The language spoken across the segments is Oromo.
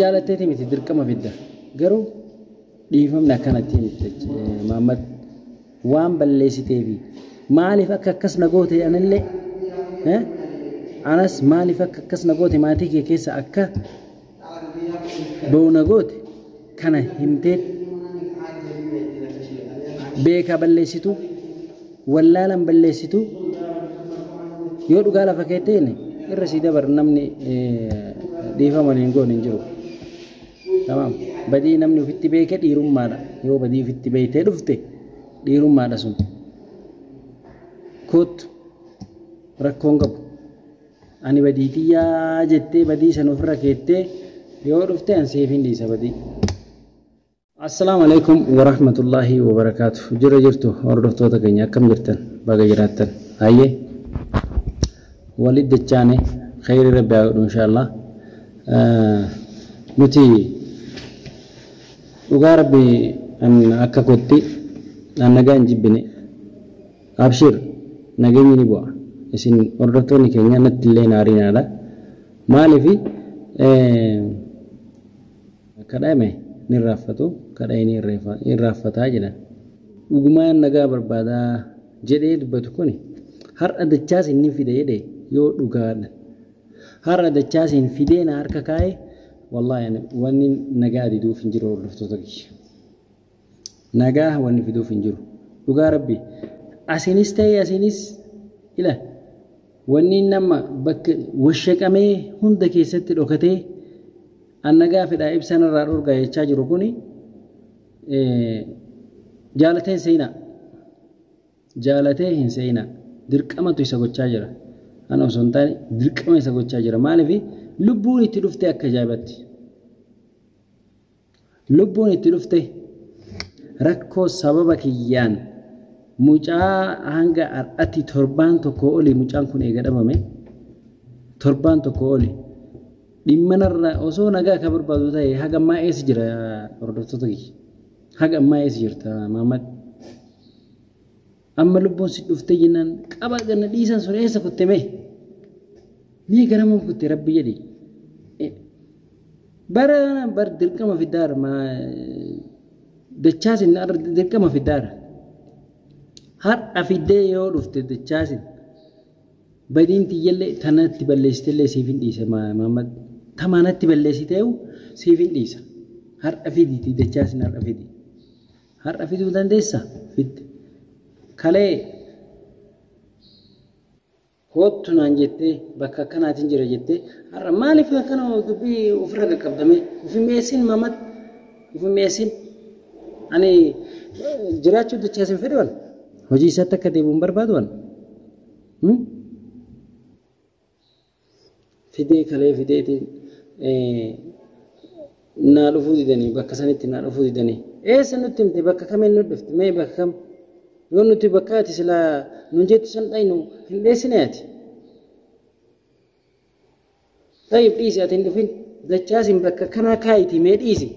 jaalatteeti miti dirqama fidda garuu dhiifamni akkanatti miti maammad waan balleessiteefi maaliif akka akkas na goote anillee anas maaliif akka akkas na goote maatii kee keessa akka ba'u na goote kana himtee beekaa balleessitu wallaalan balleessitu yoo dhugaa lafa keetteen irra sii dabar namni dhiifama hin goone hin jiru. Tamam badii namni ofitti beeke dhiirummaadha yoo badii ofitti beektee dhufte dhiirummaadha sun koottu rakkoon qabu. Ani badii tiyya jettee badii san ofirra keettee yoo dhufte an siif hin dhiisa badii. Assalaamu Aleykum Warahmatullaahi Wabarakaatu Jirra jirtu hordoftoota keenya akkam jirtan baga jiraattan hayye walit dachaane kheyri rabbi haa godhu inshaallaa nuti dhugaa rabbi an akka kotti an nagaa hin jibbine Abshir nagenyi ni bu'a isin hordoftooni kenya natti illee hin aarinaadha maalifi kadhame ni irraaffatu kadhae ni irraaffataa jedhan dhugumaan nagaa barbaada jedhee dubbatu kuni har'a dachaasiin ni fida jedhe yoo dhugaadha har'a dachaasiin fidee na harka kaa'e wallahi ani wanni nagaa diduuf hin jiru hordoftoota kiyya. Nagaa wanni fiduuf hin jiru. Dhugaa rabbi asinis ta'ee asinis ila wanni inni amma bakka washaqamee hunda keessatti dhokatee an nagaa fedhaa ibsa narraa dhorgaa jechaa jiru kuni jaalatee hin seeyinaa. Jaalatee hin seeyinaa. Dirqamatu isa gochaa jira. Ana osoo hin taane dirqama isa gochaa jira. Maaliif lubbuun itti dhuftee akka ajaa'ibatti. Lubbuun itti dhufte rakkoo sababa kiyyaan mucaa hanga har'atti torbaan tokkoo oli mucaan kun eega dhabame torbaan tokkoo oli dhimma narra osoo nagaa akka barbaadu ta'e haga ammaa eessa jira hordoftoota kiyya haga ammaa eessa jirta Maamad Amma lubbuun si dhuftee jennaan qaba ganna dhiisan sun eessa kutte mee? Mee garamuun kutte rabbi jedhi. Bara bar dirqama fiddaara maa dachaasin arra dirqama fiddaara. Har'a fiddee yoo dhufte dachaasin badiin tiyyallee tanatti balleessitellee siif hin dhiise maammad tamaanatti balleessiteewu siif hin dhiisa. Har'a fiditi dachaasin har'a fidi. Har'a fiduu dandeessaa? Fidde. Kalee koottu naan jettee bakka akkanaatiin jira jettee har'a maaliif akkana dubbii ofirra qaqqabdame ofi mi'eessin mamat ofi mi'eessin ani jiraachuu dachaa isin fedhuwan hojii isaatti akka deebi'u hin barbaadu ani. fidee kalee fideetiin naa dhufuu didanii bakka sanitti naa dhufuu didanii eessa nutti himte bakka kamiin nu dhufte mee bakka kam yoo nuti bakka ati silaa nun jettu san dhaynu hin dheessine ati tayyib dhiisi ati hin dhufin dachaasin bakka kanaa kaayiti mee dhiisi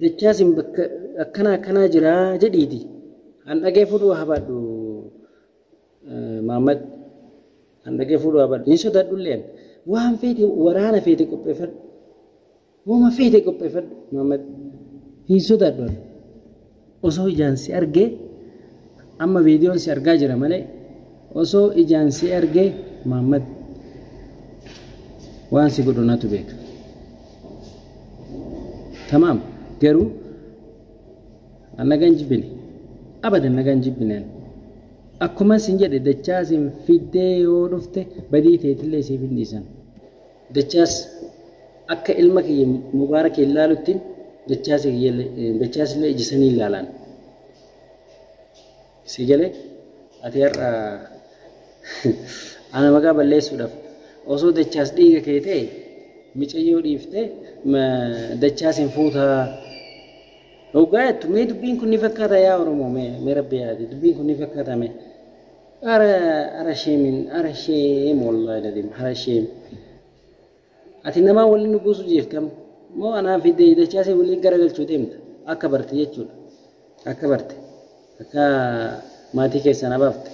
Dachaasin bakka akkanaa akkanaa jira jedhiiti an dhagee fuudhuu habaadhu Maammad an dhagee fuudhuu habaadhu hin sodaadhulleen waan feete waraana feete qopheeffadhu wama feete qopheeffadhu Maammad hin sodaadhu. Osoo ijaan si argee Amma viidiyoon si argaa jira malee osoo ijaan si argee Maammad waan si godhu natu beeka. Tamaam garuu an nagaan jibbine abadan nagaan jibbine an akkuma sin jedhe dachaa sin fiddee yoo dhufte badii teetillee siif hin dhiisan. Dachaas, Akka ilma kiyya Mubaarakiin laaluttin Dachaasillee ija saniin laalaan. Sii galee? Ati har'a ana maqaa balleessuudhaaf osoo Dachaas dhiiga kee ta'e micayyoo dhiiftee Dachaasiin fuutaa hoggaa jettu mee dubbiin kun ni fakkaata yaa Oromoo mee rabbi yaadi dubbiin kun ni fakkaata mee? Ara ara sheemin ara sheem wallahi ladim ara sheem ati namaa waliin nu buusu jeeftam moo anaa fi dachaasee waliin garagalchuu deemta akka barte jechuudha akka barte akka maatii keessan abaafte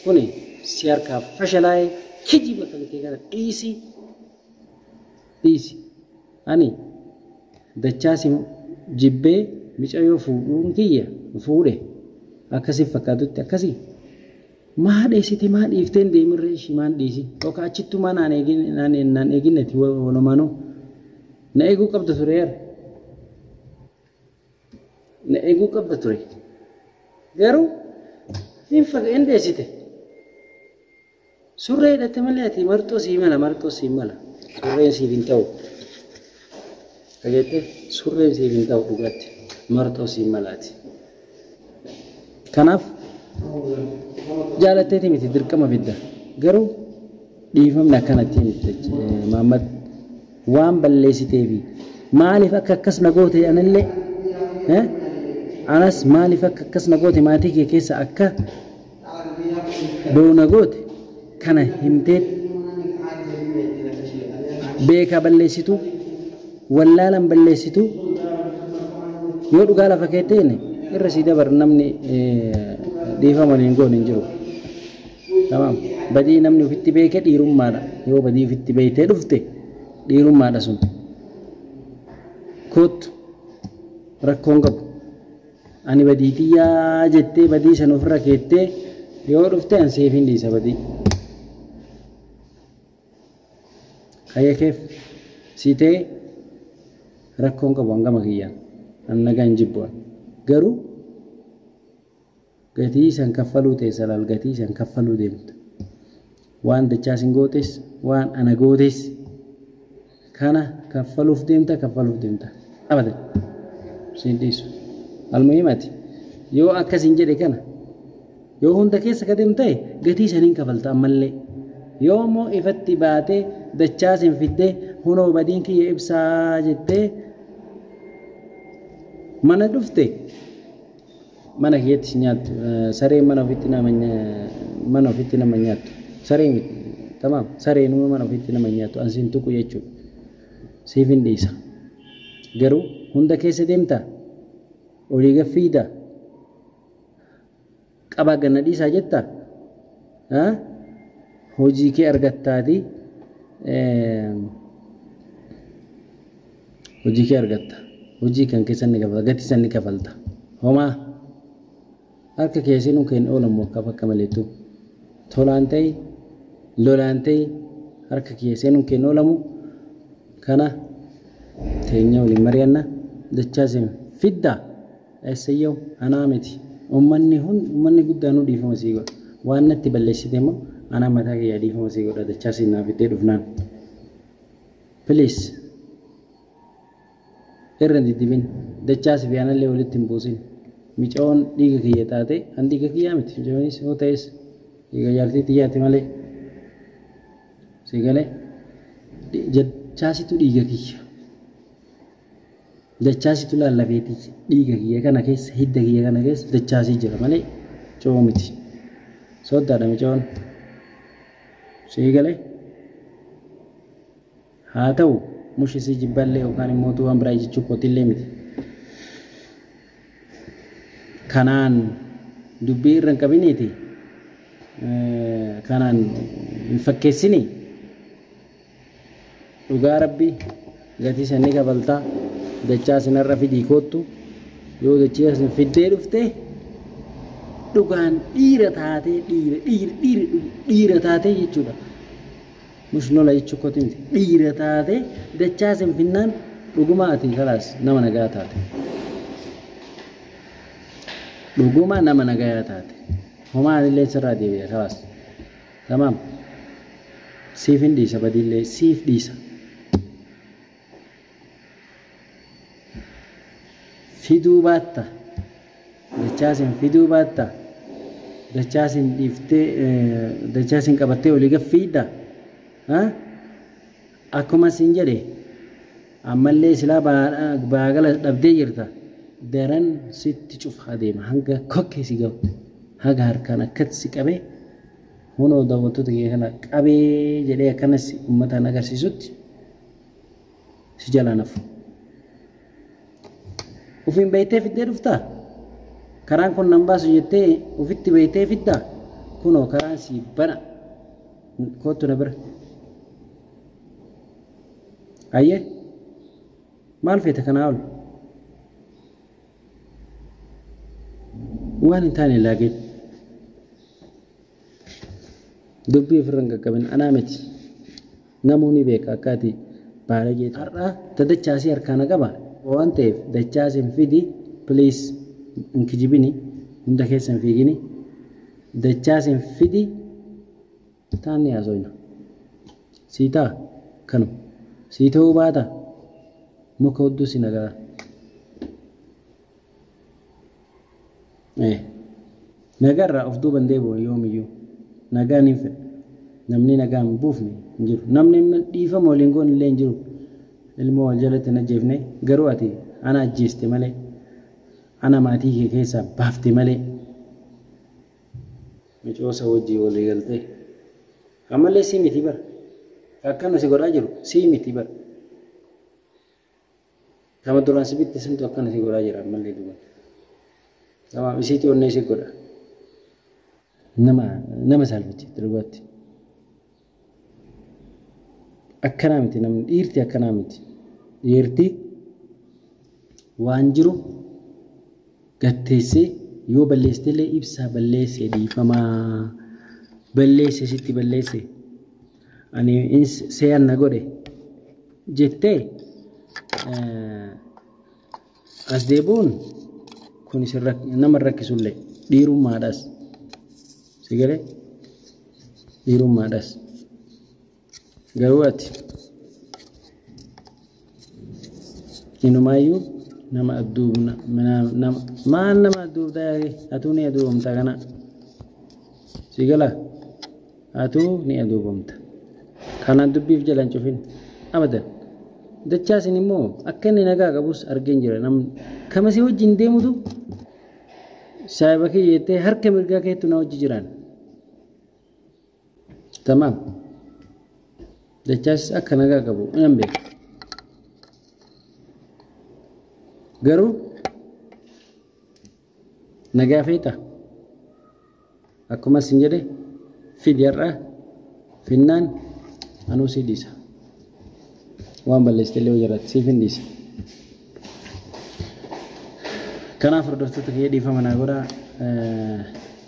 kuni si harkaa fashalaa'ee kijiba kan kee kana dhiisi dhiisi ani dachaa si jibbee micayoo fuudhuun kiyya fuudhe akka si fakkaatutti akkasi maa dheessite maa dhiifteen deemirree ishii maan dhiisi yookaan achittuu maa naan eegin naan naan eeginnati walumaanuu na eeguu qabda ture yar na eeguu qabda ture garuu hin faga hin dheessite Surree hidhatte malee ati marxoo sii mala marxoo sii mala surreen siif hin ta'u dhageette surreen siif hin ta'u dhugaatti marxoo sii mala ati kanaaf jaalatteeti miti dirqama bidda garuu dhiifamni akkanatti miti maammad waan balleessiteefi maaliif akka akkas na goote anillee anas maaliif akka akkas na goote maatii kee keessa akka Doona goote kana himteet beekaa balleessituu wallaalan balleessituu yoo dhugaa lafa keettee inni irra sii dabar namni dhiifama hin goone hin jiru. Tamam badii namni ofitti beeke dhiirummaadha yoo badii ofitti beektee dhufte dhiirummaadha sun. Koottu rakkoon qabu. Ani badii tiyya jettee badii san ofirra keettee yoo dhufte an siif hin dhiisa badii. Kayya keef sii ta'e rakkoon qabu an gama kiyyaan an nagaa hin jibbu an garuu Gatii san kaffaluu teessa laal gatii san kaffaluu deemta. Waan dachaa sin gootes waan ana gootes kana kaffaluuf deemta kaffaluuf deemta. Abadan. Siin dhiisu. Almuhim ati yoo akka sin jedhe kana yoo hunda keessa ka deemtu ta'e gatii san hin kafalta ammallee. Yoo immoo ifatti baatee dachaa sin fiddee hunoo badiin kiyya ibsaa jettee mana dhufte Mana keetti si nyaattu. Sareen mana ofitti nama mana ofitti nama nyaattu. Saree miti. Tamaam. Sareenuma mana ofitti nama nyaattu. An sin tuqu jechuudha. Siifin dhiisa. Garuu hunda keessa deemtaa? Olii gad fiigdaa? Qabaa ganna dhiisaa jettaa? Hojii kee argattaatii Hojii kee argatta. Hojii kan kee san ni kafalta. Gati san ni kafalta. Homaa harka kee seenuu kee hin oolan mokkaf akka maleettu. Tolaan ta'e lolaan ta'e harka kee seenuu kee hin oolamu. Kana teenya waliin mari'anna. Dachaa sin fidda. Essayyaw anaa miti. Ummanni hun ummanni guddaa nu dhiifama sii godha. Waan natti balleessite immoo anaa mataa kiyyaa dhiifama sii godha dachaa sin naa fiddee dhufnaan. Please irra hin diddibin dachaa sifi anallee walitti hin buusin micayoon dhiiga kiyya taate an dhiiga kiyyaa miti micayoonis yoo ta'es dhiiga jaartii tiyyaati malee si galee dachaasitu dhiiga kiyya dachaasitu laallafee tiyya dhiiga kiyya kana keessa hidda kiyya kana keessa dachaasii jira malee coo miti sooddaadha micayoon si galee. Haa ta'u, mushi si jibballee yookaan immoo waan biraa jechuu kootillee miti. Kanaan dubbii irra hin qabiniiti kanaan hin fakkeessinii. Dhugaa rabbi gatii san ni kabaltaa dachaa sin har'a fidii koottu yoo dachaa sin fiddee dhufte dhugaan dhiira taatee dhiira dhiira dhiira dhiira taatee jechuudha. Mush lola jechuu koti miti dhiira taate dachaa sin finnaan dhuguma ati kalaas nama nagaa taate dhuguma nama nagayaa taate homaa anillee sirraa deebi'e kalaas tamaam siif hin dhiisa badiillee siif dhiisa fiduu baatta? Dachaasin fiduu baatta? Dachaasin dhiiftee dachaasin qabattee olii gad fiidda? Akkuma siin jedhe ammallee silaa baagala dhabdee jirta daran sitti cufa adeema hanga kokkee si gahu haga harkaan akkatti si qabee hunoo daawwattoota kee kana qabee jedhee akkanas uummataan agarsiisutti si jalaa nafu ofiin beektee fiddee dhuftaa karaan kun nan baasu jettee ofitti beektee fiddaa kunoo karaan sii bana kootu na bira ayyee maal feeta kanaa ol waan hin taane laageetti Dubbii ofirra hin qaqqabin. Anaa miti. Namuu ni beeka akka ati baalagee taate. Har'a ta dachaasii harkaa na qaba waan ta'eef dachaasin fidi please hin kijibini hunda keessa hin fiigini dachaasin fidi taan ni haasoyna. Sii ta'a kanu sii ta'uu baata muka hudduu si nagaa. Nagaarraa of duuba hin deebi'u yoomiyyuu. Nagaa niin fedha. Namni nagaa hin buufne hin jiru. Namni dhiifama waliin goone illee hin jiru. Ilmoo wal jalatti hin ajjeefne garuu ati ana ajjeeste malee ana maatii kee keessaa baafte malee micoosa wajjii walii galtee ammallee sii miti bara akkana si godhaa jiru sii miti bara Nama duraan si bitte santu akkana si godhaa jira ammallee duban. Nama isiitu onnee si godha. Nama nama saalfachiifte dhugaatti. Akkanaa miti namni dhiirti akkanaa miti. Dhiirti waan jiru gad teessee yoo balleessitellee ibsaa balleesse dhiifama balleesse sitti balleesse ani ins seeyan na godhe jettee eh, as deebi'uun kun isin rak- nama hin rakkisullee dhiirummaadhas si galee dhiirummaadhas. Garuu ati inumaayyuu nama adduubna maal nama adduubdaa yaake atuu ni aduubamta kana si gala atuu ni aduubamta kanaan dubbiif jalan cufin abadan dachaasin immoo akka inni nagaa qabus argeen jira namni kama si wajjin deemutu saayiba kee jettee harka mirgaa keettu na wajji jiraan Tamaam. Dachaas akka nagaa qabu nan beeka. Garuu nagaa feeta. Akkuma isin jedhe fidi har'a finnaan anuu si dhiisa. Waan balleessite illee hojirratti siif hin dhiisa. Kanaaf hordoftoota kiyya dhiifama naa godhaa.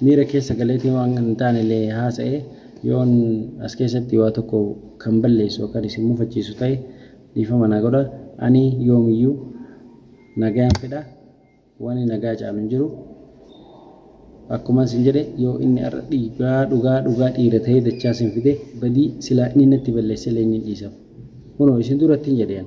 Miira keessa galeetii waan hin taane illee haasa'ee yoon as keessatti waa tokko kan balleessu yookaan isin mufachiisu ta'e dhiifama naa godhaa. Ani yoomiyyuu nagaan fedha. Wani nagaa caalu hin jiru. Akkuma isin jedhe yoo inni har'a dhiigaa dhugaa dhugaa dhiira ta'ee dachaa isin fide badii silaa inni natti balleesse illee ni dhiisaf. Kunoo isin duratti hin jedheen.